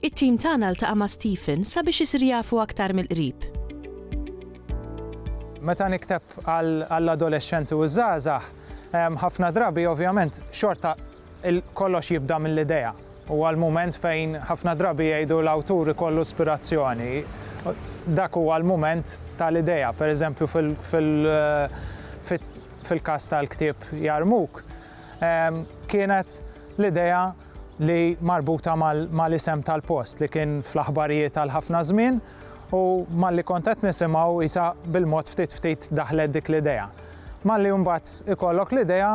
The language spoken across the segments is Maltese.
It-tim tagħna ltaqa' ma' Stephen sabiex isir jafu aktar mill-qrib. Meta nikteb għall-adolexxenti u ż-żgħażagħ, ħafna drabi ovvjament xorta kollox jibda mill-idea. Huwa l-mument fejn ħafna drabi jgħidu l-awtur ikollu spirazzjoni. Dak huwa l-mument tal-idea. Pereżempju fil-każ tal-ktieb Jarmuk, kienet l-idea li marbuta mal-isem tal-post li kien fl-aħbarijiet għal ħafna żmien u malli kont qed nisimgħu isa bil-mod ftit ftit daħlet dik l-idea. Malli mbagħad ikollok l-idea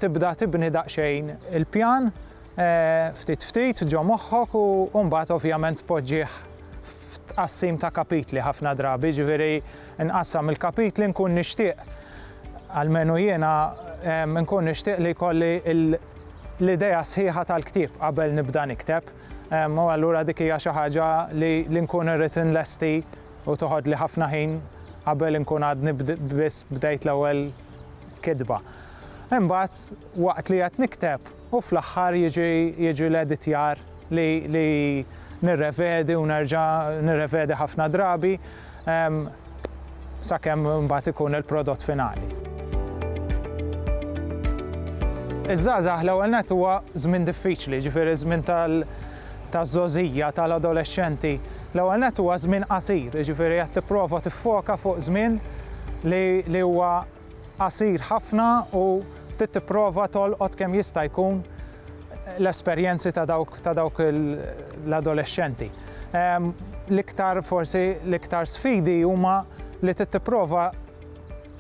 tibda tibni daqsxejn il-pjan eh, ftit ftit ġo moħħok u mbagħad ovvjament poġġih f'tqassim ta' kapitli ħafna drabi, ġifieri nqassam il-kapitli nkun nixtieq għalmenu jiena nkun nixtieq li jkolli l-idea sħiħa tal-ktieb qabel nibda nikteb, u allura dik hija xi ħaġa li li nkun irrid inlesti u toħodli ħafna ħin qabel inkun għadni biss bdejt l-ewwel kitba. Imbagħad waqt li qed nikteb u fl-aħħar jiġi jiġi l-editjar li li nirrevedi u nerġa' nirrevedi ħafna drabi sakemm imbagħad ikun il-prodott finali. Iż-żgħażagħ l-ewwel nett huwa żmien diffiċli, ġifieri żmien tal taż-żgħożija, tal-adolexxenti. L-ewwel nett huwa żmien qasir, jiġifieri qed tipprova tiffoka fuq żmien li huwa qasir ħafna u trid tipprova tolqot kemm jista' jkun l-esperjenzi ta' dawk ta' dawk l-adolexxenti. Ehm, l-iktar forsi l-iktar sfidi huma li trid tipprova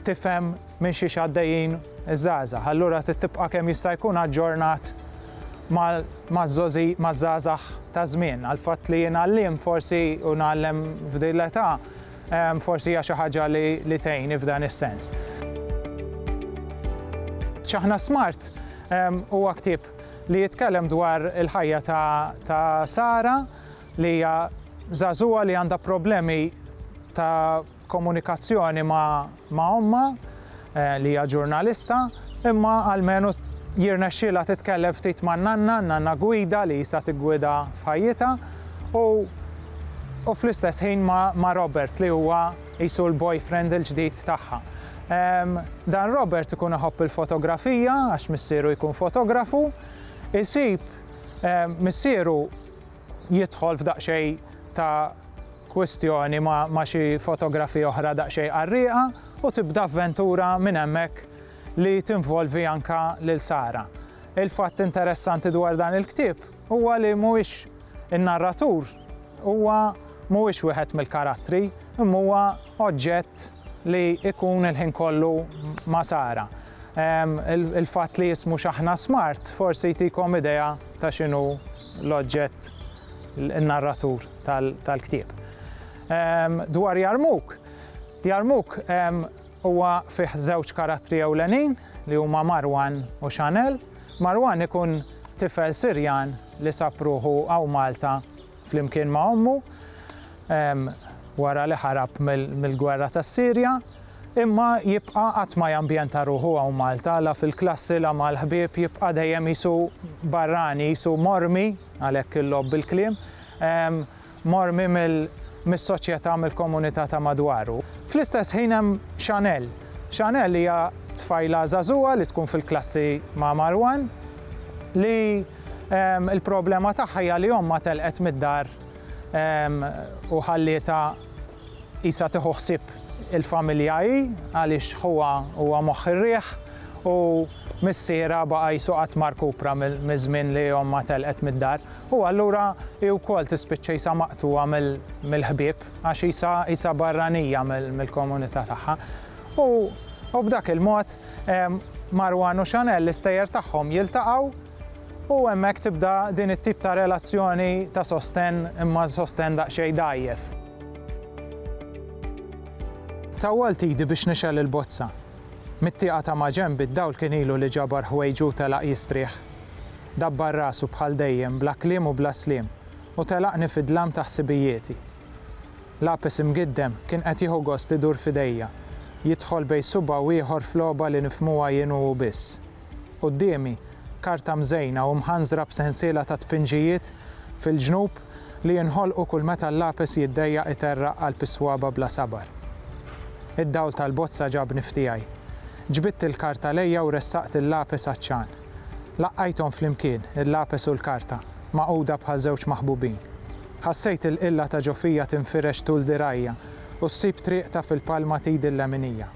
tifhem minn xiex għaddejjin iż-żgħażagħ. Allura trid tibqa' kemm jista' jkun aġġornat maż-żgħażagħ ta' żmien. Għal fatt li jien għalliem forsi u nagħllem f'din l-età Forsi hija xi ħaġa li tgħinni f'dan is-sens. Ċaħna Smart huwa ktieb li jitkellem dwar il-ħajja ta' Sara li hija żagħżugħa li għandha problemi ta' komunikazzjoni ma' ma' ommha li hija ġurnalista, imma almenu jirnexxielha titkellem ftit man-nanna, n-nanna gwida li qisha tiggwida f'ħajjitha, u u fl-istess ħin ma' ma' Robert li huwa qisu l-boyfriend il-ġdid tagħha. Dan Robert ikun iħobb il-fotografija għax missieru jkun fotografu, isib missieru jidħol f'daqsxejn ta' kwistjoni ma' xi fotografiji oħra daqsxejn qarrieqa u tibda avventura minn hemmhekk li tinvolvi anke lil Sara. Il-fatt interessanti dwar dan il-ktieb huwa li mhuwiex in-narratur huwa mhuwiex wieħed mill-karattri, imma huwa oġġett li jkun il-ħin kollu ma' Sara. Ehm, il-fatt li jismu x'aħna smart forsi jtikom idea ta' x'inhu l-oġġett, in-narratur tal-ktieb. Dwar Jarmuk, Jarmuk huwa fih żewġ karattri ewlenin li huma Marwan u Chanel. Marwan ikun tifel Sirjan li sab ruħu hawn Malta flimkien ma' ommu wara li ħarab mill-gwerra tas-Sirja. Imma jibqa' qatt ma jambjenta ruħu hawn Malta, la fil-klassi la mal-ħbieb, jibqa' dejjem qisu barrani, qisu mormi, għalhekk il-logħob bil-kliem, mormi mis-soċjetà, mill-komunità ta' madwaru. Fl-istess ħin hemm Chanel. Chanel hija tfajla żagħżugħa li tkun fil-klassi ma' Marwan li l-problema tagħha hija li ommha telqet mid-dar u ħallietha Qisha tieħu ħsieb il-familja hi għaliex ħuha huwa moħħ ir-riħ u missierha baqa' qisu qatt ma rkupra miż-żmien li ommha telqet mid-dar u allura hi wkoll tispiċċa qisha maqtugħa mill-ħbieb għax qisha qisha barranija mill-komunità tagħha. U b'dak il-mod Marwan u Chanel l-istejjer tagħhom jiltaqgħu U hemmhekk tibda din it-tip ta' relazzjoni ta' sostenn imma sostenn daqsxejn dgħajjef. Tawwalt idi biex nixgħel il-bozza. Mit-tieqa ta' maġenb id-dawl kien ilu li ġabar ħwejġu u telaq jistrieħ. Dabbar rasu bħal dejjem bla kliem u bla sliem u telaqni fid-dlam ta' ħsibijieti. Lapes imgiddem kien qed jieħu gost idur f'idejja, jidħol bejn subgħa u ieħor f'logħba li nifhmuha jien u hu biss. Quddiemi, karta mżejna u mħanżra b'sensiela ta' tpinġijiet fil-ġnub li jinħolqu kull meta l-lapes jiddejjaq iterraq qalb is-swaba' bla sabar. Id-dawl tal-bozza ġabni f'tiegħi. Ġbidt il-karta lejja u ressaqt il-lapes għaċ-ċagħan. Laqqajthom flimkien, il-lapes u l-karta, magħquda bħal żewġ maħbubin. Ħassejt il-qilla ta' ġo fija tinfirex tul dirgħajja u ssib triqtha fil-palma t'idi l-leminija.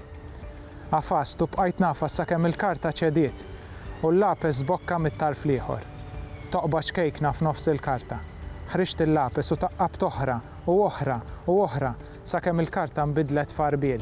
Għafast u bqajt ngħafas sakemm il-karta ċediet u l-lapes sbokka mit-tarf l-ieħor. Toqba ċkejkna f'nofs il-karta. Ħriġt il-lapes u taqqabt oħra u oħra u oħra sakemm il-karta nbidlet f'għarbiel.